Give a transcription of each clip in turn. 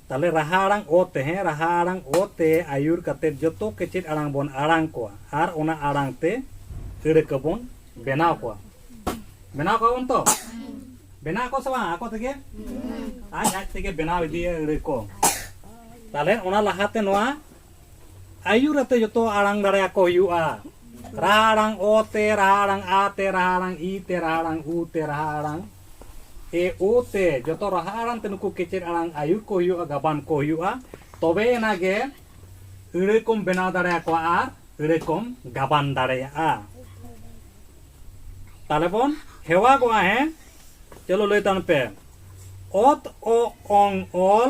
ᱛᱟᱦᱚᱞᱮ ᱨᱟᱦᱟ ᱟᱲᱟᱝ ᱚ ᱛᱮ ᱦᱮᱸ ᱨᱟᱦᱟ ᱟᱲᱟᱝ ᱚ ᱛᱮ ᱟᱹᱭᱩᱨ ᱠᱟᱛᱮ ᱡᱚᱛᱚ ᱜᱮ ᱪᱮᱫ ᱟᱲᱟᱝ ᱵᱚᱱ ᱟᱲᱟᱝ ᱠᱚᱣᱟ ᱟᱨ ᱚᱱᱟ ᱟᱲᱟᱝ ᱛᱮ ᱟᱹᱲᱟᱹ ᱠᱚᱵᱚᱱ ᱵᱮᱱᱟᱣ ᱠᱚᱣᱟ ᱵᱮᱱᱟᱣ ᱠᱚᱣᱟ ᱵᱚᱱ ᱛᱚ ᱵᱮᱱᱟᱣ ᱠᱚ ᱥᱮ ᱵᱟᱝ ᱟᱠᱚ ᱛᱮᱜᱮ ᱟᱡ ᱟᱡ ᱛᱮᱜᱮ ᱵᱮᱱᱟᱣ ᱤᱫᱤᱭᱟ ᱟᱹᱲᱟᱹ ᱠᱚ ᱛᱟᱦᱚᱞᱮ ᱚᱱᱟ ᱞᱟᱦᱟᱛᱮ ᱱᱚᱣᱟ ᱟᱭᱩᱨ ᱟᱛᱮ ᱡᱚᱛᱚ ᱟᱲᱟᱝ ᱫᱟᱲᱮ ᱟᱠᱚ ᱦᱩᱭᱩᱜᱼᱟ ᱨᱟᱦᱟ ᱟᱲᱟᱝ ᱚ ᱛᱮ ᱨᱟᱦᱟ ᱟᱲᱟᱝ ᱟ ᱛᱮ ᱨᱟᱦᱟ ᱟᱲᱟᱝ ᱤ ᱛᱮ ᱨᱟᱦᱟ ᱟᱲᱟᱝ ᱩ ᱛᱮ ᱨᱟᱦᱟ ᱟᱲᱟᱝ ᱮ ᱳ ᱛᱮ ᱡᱚᱛᱚ ᱨᱟᱦᱟ ᱟᱲᱟᱝ ᱛᱮ ᱱᱩᱠᱩ ᱠᱮᱪᱮᱫ ᱟᱲᱟᱝ ᱟᱭᱩᱨ ᱠᱚ ᱦᱩᱭᱩᱜᱼᱟ ᱜᱟᱵᱟᱱ ᱠᱚ ᱦᱩᱭᱩᱜᱼᱟ ᱛᱚᱵᱮ ᱮᱱᱟ ᱜᱮ ᱟᱹᱲᱟᱹ ᱠᱚᱢ ᱵᱮᱱᱟᱣ ᱫᱟᱲᱮ ᱟᱠᱚᱣᱟ ᱟᱨ ᱟᱹᱲᱟᱹ ᱠᱚᱢ ᱜᱟᱵᱟᱱ ᱫᱟᱲᱮᱭᱟᱜᱼᱟ ᱛᱟᱦᱞᱮ ᱵᱚᱱ ᱦᱮᱣᱟᱜᱚᱜᱼᱟ ᱦᱮᱸ ᱪᱚᱞᱚ ᱞᱟᱹᱭ ᱛᱟᱵᱚᱱ ᱯᱮ ᱚᱛ ᱚ ᱚᱝ ᱚᱞ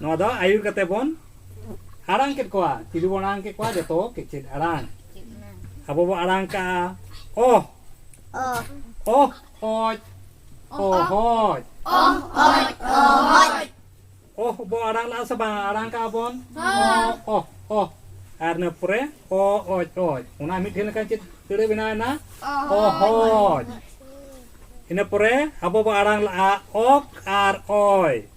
ᱱᱚᱣᱟ ᱫᱚ ᱟᱹᱭᱩᱨ ᱠᱟᱛᱮ ᱵᱚᱱ ᱟᱲᱟᱝ ᱠᱮᱫ ᱠᱚᱣᱟ ᱪᱤᱞᱤ ᱵᱚᱱ ᱟᱲᱟᱝ ᱠᱮᱫ ᱠᱚᱣᱟ ᱡᱚᱛᱚ ᱠᱮᱪᱮᱫ ᱟᱲᱟᱝ ᱟᱵᱚ ᱵᱚ ᱟᱲᱟᱝ ᱠᱟᱜᱼᱟ ᱚ ᱚ ᱚᱡ ᱚ ᱦᱚᱡ ᱚ ᱚᱡ ᱚ ᱦᱚᱡ ᱚ ᱵᱚ ᱟᱲᱟᱝ ᱞᱟᱜᱼᱟ ᱥᱮ ᱵᱟᱝ ᱟᱲᱟᱝ ᱠᱟᱜᱼᱟ ᱵᱚᱱ ᱚ ᱚ ᱚ ᱟᱨ ᱤᱱᱟᱹ ᱯᱚᱨᱮ ᱚ ᱚᱡ ᱚᱡ ᱚᱱᱟ ᱢᱤᱫᱴᱷᱮᱱ ᱞᱮᱠᱟ ᱪᱮᱫ ᱟᱹᱲᱟᱹ ᱵᱮᱱᱟᱣᱮᱱᱟ ᱚ ᱦᱚᱡ ᱤᱱᱟᱹ ᱯᱚᱨᱮ ᱟᱵᱚ ᱵᱚ ᱟᱲᱟᱝ ᱞᱟᱜᱼᱟ ᱚᱠ ᱟᱨ ᱚᱭ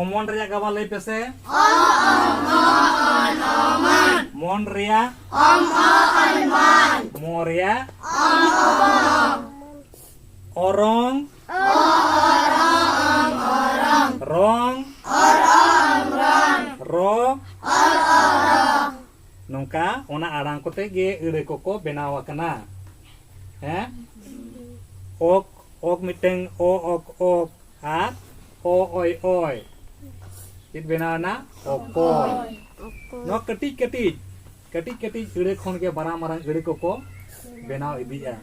ᱚᱢᱚᱱ ᱨᱮᱭᱟᱜ ᱜᱟᱵᱟ ᱞᱟᱹᱭ ᱯᱮᱥᱮ ᱢᱚᱱ ᱨᱮᱭᱟᱜ ᱢᱚ ᱨᱮᱭᱟᱜ ᱚᱨᱚᱝ ᱨᱚᱝ ᱨᱚ ᱱᱚᱝᱠᱟ ᱚᱱᱟ ᱟᱲᱟᱝ ᱠᱚᱛᱮ ᱜᱮ ᱟᱹᱲᱟᱹ ᱠᱚᱠᱚ ᱵᱮᱱᱟᱣ ᱟᱠᱟᱱᱟ ᱦᱮᱸ ᱚᱠ ᱚᱠ ᱢᱤᱫᱴᱟᱝ ᱚ ᱚᱠ ᱚᱠ ᱟᱨ ᱚ ᱚᱭ ᱚᱭ ᱪᱮᱫ ᱵᱮᱱᱟᱣ ᱮᱱᱟ ᱚᱠᱚᱭ ᱱᱚᱣᱟ ᱠᱟᱹᱴᱤᱡ ᱠᱟᱹᱴᱤᱡ ᱠᱟᱹᱴᱤᱡ ᱠᱟᱹᱴᱤᱡ ᱟᱹᱲᱟᱹ ᱠᱷᱚᱱ ᱜᱮ ᱢᱟᱨᱟᱝ ᱢᱟᱨᱟᱝ ᱟᱹᱲᱟᱹ ᱠᱚᱠᱚ ᱵᱮᱱᱟᱣ ᱤᱫᱤᱜᱼᱟ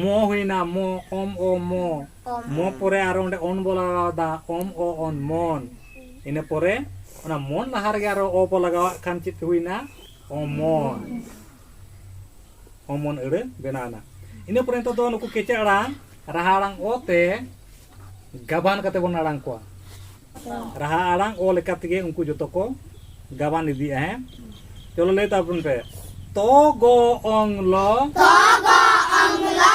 ᱢᱚ ᱦᱩᱭᱱᱟ ᱢᱚ ᱚᱢ ᱚ ᱢᱚ ᱢᱚ ᱯᱚᱨᱮ ᱟᱨᱚ ᱚᱸᱰᱮ ᱚᱱ ᱵᱚ ᱞᱟᱜᱟᱣᱫᱟ ᱚᱢ ᱚ ᱚᱱ ᱢᱚᱱ ᱤᱱᱟᱹ ᱯᱚᱨᱮ ᱚᱱᱟ ᱢᱚᱱ ᱞᱟᱦᱟ ᱨᱮᱜᱮ ᱟᱨᱚ ᱚ ᱵᱚ ᱞᱟᱜᱟᱣᱟᱜ ᱠᱷᱟᱱ ᱪᱮᱫ ᱦᱩᱭᱱᱟ ᱚᱢᱚᱱ ᱠᱚᱢᱚᱱ ᱟᱹᱲᱟᱹ ᱵᱮᱱᱟᱣᱱᱟ ᱤᱱᱟᱹ ᱯᱚᱨᱮ ᱱᱤᱛᱚᱜ ᱫᱚ ᱱᱩᱠᱩ ᱠᱮᱪᱮᱫ ᱟᱲᱟᱝ ᱨᱟᱦᱟ ᱟᱲᱟᱝ ᱚ ᱛᱮ ᱜᱟᱵᱟᱱ ᱠᱟᱛᱮ ᱵᱚᱱ ᱟᱲᱟᱝ ᱠᱚᱣᱟ ᱨᱟᱦᱟ ᱟᱲᱟᱝ ᱚ ᱞᱮᱠᱟ ᱛᱮᱜᱮ ᱩᱱᱠᱩ ᱡᱚᱛᱚ ᱠᱚ ᱜᱟᱵᱟᱱ ᱤᱫᱤᱜᱼᱟ ᱦᱮᱸ ᱪᱚᱞᱚ ᱞᱟᱹᱭ ᱛᱟᱵᱚᱱ ᱯᱮ ᱛᱚ ᱜᱚ ᱚᱝ ᱞᱚ ᱛᱚ ᱜᱚ ᱚᱝ ᱞᱚ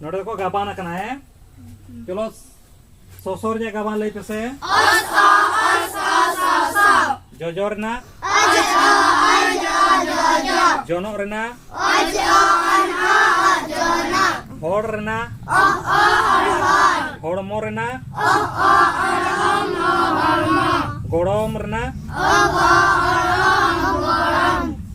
ᱱᱚᱰᱮ ᱠᱚ ᱜᱟᱵᱟᱱ ᱟᱠᱟᱱᱟ ᱦᱮ ᱪᱚᱞᱚ ᱥᱚᱥᱚᱨ ᱨᱮᱭᱟᱜ ᱜᱟᱵᱟᱱ ᱞᱟᱹᱭ ᱯᱮᱥᱮ ᱡᱚᱡᱚ ᱨᱮᱱᱟᱜ ᱡᱚᱱᱚᱜ ᱨᱮᱱᱟᱜ ᱦᱚᱲ ᱨᱮᱱᱟᱜ ᱦᱚᱲᱢᱚ ᱨᱮᱱᱟᱜ ᱜᱚᱲᱚᱢ ᱨᱮᱱᱟᱜ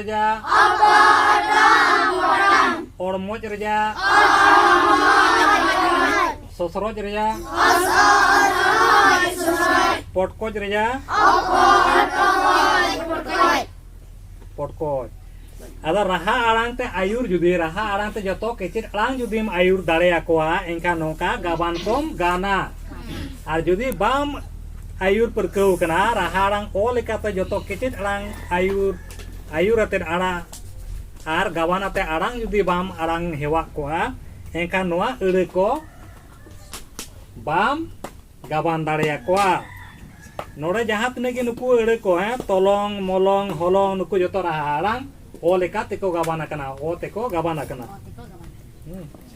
ᱨᱮᱭᱟᱜ ᱚᱲᱢᱚᱡ ᱨᱮᱭᱟᱜ ᱥᱚᱥᱨᱚᱡ ᱨᱮᱭᱟᱜ ᱯᱚᱴᱠᱚᱡ ᱨᱮᱭᱟᱜ ᱯᱚᱴᱠᱚᱡ ᱟᱫᱚ ᱨᱟᱦᱟ ᱟᱲᱟᱝ ᱛᱮ ᱟᱭᱩᱨ ᱡᱩᱫᱤ ᱨᱟᱦᱟ ᱟᱲᱟᱝ ᱛᱮ ᱡᱚᱛᱚ ᱠᱮᱪᱮᱫ ᱟᱲᱟᱝ ᱡᱩᱫᱤᱢ ᱟᱭᱩᱨ ᱫᱟᱲᱮᱭᱟᱠᱚᱣᱟ ᱮᱱᱠᱷᱟᱱ ᱱᱚᱝᱠᱟ ᱜᱟᱵᱟᱱ ᱠᱚᱢ ᱜᱟᱱᱟ ᱟᱨ ᱡᱩᱫᱤ ᱵᱟᱢ ᱟᱭᱩᱨ ᱯᱟᱹᱨᱠᱟᱹᱣ ᱠᱟᱱᱟ ᱨᱟᱦᱟ ᱟᱲᱟᱝ ᱚ ᱞᱮᱠᱟᱛᱮ ᱡᱚᱛᱚ ᱠᱮᱪᱮᱫ ᱟᱲᱟᱝ ᱟᱭᱩᱨ ᱟᱹᱭᱩᱨ ᱟᱛᱮᱫ ᱟᱲᱟᱝ ᱟᱨ ᱜᱟᱵᱟᱱ ᱟᱛᱮᱫ ᱟᱲᱟᱝ ᱡᱩᱫᱤ ᱵᱟᱢ ᱟᱲᱟᱝ ᱦᱮᱣᱟᱜ ᱠᱚᱜᱼᱟ ᱮᱱᱠᱷᱟᱱ ᱱᱚᱣᱟ ᱟᱹᱲᱟᱹ ᱠᱚ ᱵᱟᱢ ᱜᱟᱵᱟᱱ ᱫᱟᱲᱮᱭᱟᱠᱚᱣᱟ ᱱᱚᱰᱮ ᱡᱟᱦᱟᱸ ᱛᱤᱱᱟᱹᱜ ᱜᱮ ᱱᱩᱠᱩ ᱟᱹᱲᱟᱹ ᱠᱚ ᱦᱮᱸ ᱛᱚᱞᱚᱝ ᱢᱚᱞᱚᱝ ᱦᱚᱞᱚᱝ ᱱᱩᱠᱩ ᱡᱚᱛᱚ ᱨᱟᱦᱟ ᱟᱲᱟᱝ ᱚ ᱞᱮᱠᱟ ᱛᱮᱠᱚ ᱜᱟᱵᱟᱱ ᱟᱠᱟᱱᱟ ᱚ ᱛᱮᱠᱚ ᱜᱟᱵᱟᱱ ᱟᱠᱟᱱᱟ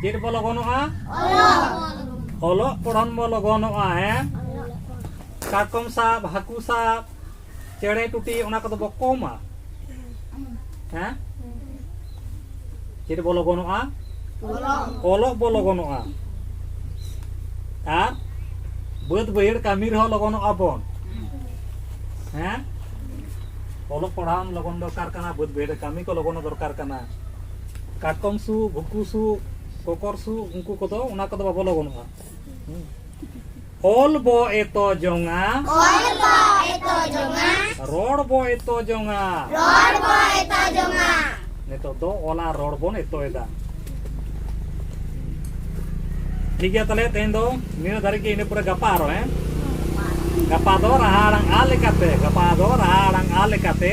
ᱪᱮᱫ ᱵᱚ ᱞᱚᱜᱚᱱᱚᱜᱼᱟ ᱚᱞᱚᱜ ᱯᱚᱲᱦᱚᱱ ᱵᱚ ᱞᱚᱜᱚᱱᱚᱜᱼᱟ ᱦᱮᱸ ᱠᱟᱴᱠᱚᱢ ᱥᱟᱵ ᱦᱟᱹᱠᱩ ᱥᱟᱵ ᱪᱮᱬᱮ ᱴᱩᱴᱤ ᱚᱱᱟ ᱠᱚᱫᱚ ᱵᱚ ᱠᱚᱢᱟ ᱦᱮᱸ ᱪᱮᱫ ᱵᱚ ᱞᱚᱜᱚᱱᱚᱜᱼᱟ ᱚᱞᱚᱜ ᱵᱚ ᱞᱚᱜᱚᱱᱚᱜᱼᱟ ᱟᱨ ᱵᱟᱹᱫᱽ ᱵᱟᱹᱭᱦᱟᱹᱲ ᱠᱟᱹᱢᱤ ᱨᱮᱦᱚᱸ ᱞᱚᱜᱚᱱᱚᱜᱼᱟ ᱵᱚᱱ ᱦᱮᱸ ᱚᱞᱚᱜ ᱯᱟᱲᱦᱟᱣ ᱞᱚᱜᱚᱱ ᱫᱚᱨᱠᱟᱨ ᱠᱟᱱᱟ ᱵᱟᱹᱫᱽ ᱵᱟᱹᱭᱦᱟᱹᱲ ᱠᱟᱹᱢᱤ ᱠᱚ ᱞᱚᱜᱚᱱ ᱫᱚᱨᱠᱟᱨ ᱠᱟᱱᱟ ᱠᱟᱴᱠᱚᱢ ᱥᱩ ᱵᱷᱩᱠᱩ ᱥᱩ ᱠᱚᱠᱚᱨ ᱥᱩ ᱩᱱᱠᱩ ᱠᱚᱫᱚ ᱚᱱᱟ ᱠᱚᱫᱚ ᱵᱟᱵᱚ ᱞᱚᱜᱚᱱᱚᱜᱼᱟ ᱚᱞ ᱵᱚ ᱮᱛᱚ ᱡᱚᱝᱟ ᱚᱞ ᱵᱚ ᱮᱛᱚ ᱡᱚᱝᱟ ᱨᱚᱲ ᱵᱚ ᱮᱛᱚ ᱡᱚᱝᱟ ᱨᱚᱲ ᱵᱚ ᱮᱛᱚ ᱡᱚᱝᱟ ᱱᱤᱛᱚᱜ ᱫᱚ ᱚᱞᱟ ᱨᱚᱲ ᱵᱚᱱ ᱮᱛᱚᱭᱮᱫᱟ ᱴᱷᱤᱠ ᱜᱮᱭᱟ ᱛᱟᱦᱞᱮ ᱛᱮᱦᱮᱧ ᱫᱚ ᱱᱤᱱᱟᱹᱜ ᱫᱷᱟᱹᱨᱤᱡ ᱜᱮ ᱤᱱᱟᱹ ᱯᱚᱨᱮ ᱜᱟᱯᱟ ᱟᱨᱚ ᱦᱮᱸ ᱜᱟᱯᱟ ᱫᱚ ᱨᱟᱦᱟ ᱟᱲᱟᱝ ᱟ ᱞᱮᱠᱟᱛᱮ ᱜᱟᱯᱟ ᱫᱚ ᱨᱟᱦᱟ ᱟᱲᱟᱝ ᱟ ᱞᱮᱠᱟᱛᱮ